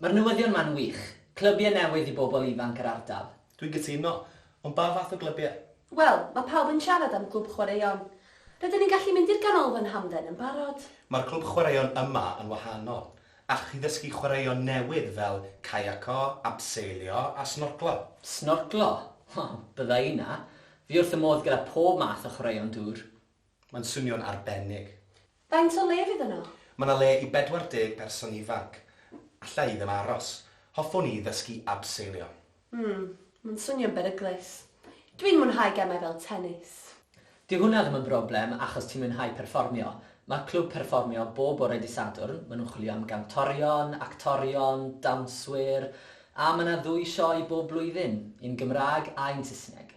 Mae'r newyddion ma'n wych. Clybiau newydd i bobl ifanc yr ardal. Dwi'n gytuno. Ond ba fath o glybiau? Wel, mae pawb yn siarad am Glwb Chwaraeon. Rydyn ni'n gallu mynd i'r Ganolfan Hamdden yn barod. Mae'r Clwb Chwaraeon yma yn wahanol. Ac i ddysgu chwaraeon newydd fel caiaco, abseilio a snorclo. Snorclo? Wel, bydda i 'na. Fi wrth fy modd gyda pob math o chwaraeon dŵr. Mae'n swnio'n arbennig. Faint o le fydd yno? Mae 'na le i 40 person ifanc. Alla i ddim aros. Hoffwn i ddysgu abseilio. Hmm, mae'n swnio'n beryglus. Dwi'n mwynhau gemau fel tennis. Dyw hwnna ddim yn broblem achos ti'n mwynhau perfformio. Mae'r clwb perfformio bob bore Dydd Sadwrn, maen nhw'n chwilio am gantorion, actorion, dawnswyr, a mae 'na ddwy sioe bob blwyddyn, un Gymraeg a un Saesneg.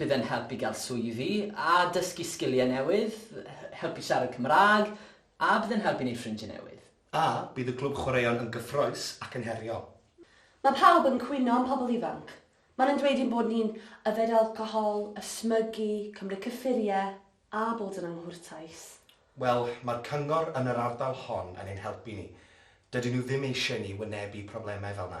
Bydd e'n help i gael swyddi a dysgu sgiliau newydd, help i siarad Cymraeg a bydd e'n help i wneud ffrindiau newydd. A bydd y Glwb Chwaraeon yn gyffrous ac yn heriol. Mae pawb yn cwyno am pobl ifanc. Maen nhw'n dweud ein bod ni'n yfed alcohol, ysmygu, cymryd cyffuriau a bod yn anghwrtais. Wel, mae'r cyngor yn yr ardal hon yn ein helpu ni. Dydyn nhw ddim eisiau i ni wynebu problemau fel 'na.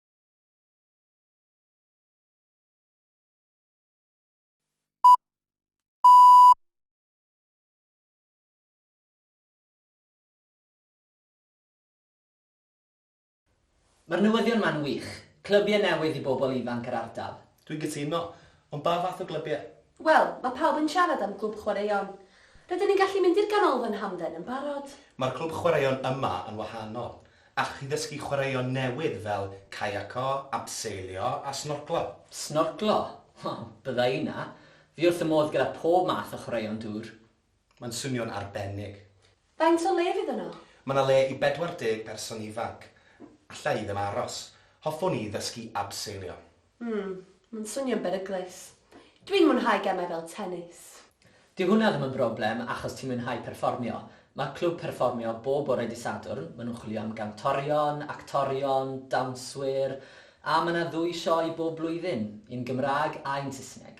Mae'r newyddion ma'n wych. Clybiau newydd i bobl ifanc yr ardal. Dwi'n gytuno. Ond ba fath o glybiau? Wel, mae pawb yn siarad am Glwb Chwaraeon. Rydyn ni'n gallu mynd i'r Ganolfan Hamdden yn barod. Mae'r Clwb Chwaraeon yma yn wahanol. Allwch chi ddysgu chwaraeon newydd fel caiaco, abseilio a snorclo. Snorclo? Wel, bydda i 'na! Fi wrth fy modd gyda pob math o chwaraeon dŵr. Mae'n swnio'n arbennig. Faint o le fydd yno? Mae 'na le i 40 berson ifanc. Alla i ddim aros. Hoffwn i ddysgu abseilio. Hmm, mae'n swnio'n beryglus. Dwi'n mwynhau gemau fel tenis. Dyw hwnna ddim yn broblem achos ti'n mwynhau perfformio. Mae'r clwb perfformio bob bore Dydd Sadwrn, maen nhw'n chwilio am gantorion, actorion, dawnswyr, a mae 'na ddwy sioe bob blwyddyn, un Gymraeg a un Saesneg.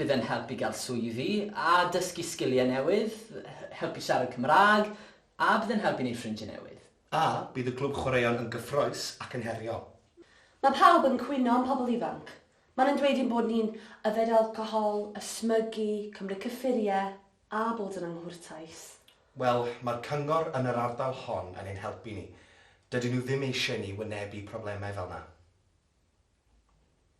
Bydd e'n help i gael swyddi a dysgu sgiliau newydd, helpu siarad Cymraeg, a bydd e'n help i wneud ffrindiau newydd. A bydd y Glwb Chwaraeon yn gyffrous ac yn heriol? Mae pawb yn cwyno am pobl ifanc. Maen nhw'n dweud ein bod ni'n yfed alcohol, ysmygu, cymryd cyffuriau, a bod yn anghwrtais. Wel, mae'r cyngor yn yr ardal hon yn ein helpu ni. Dydyn nhw ddim eisiau ni wynebu problemau fel 'na.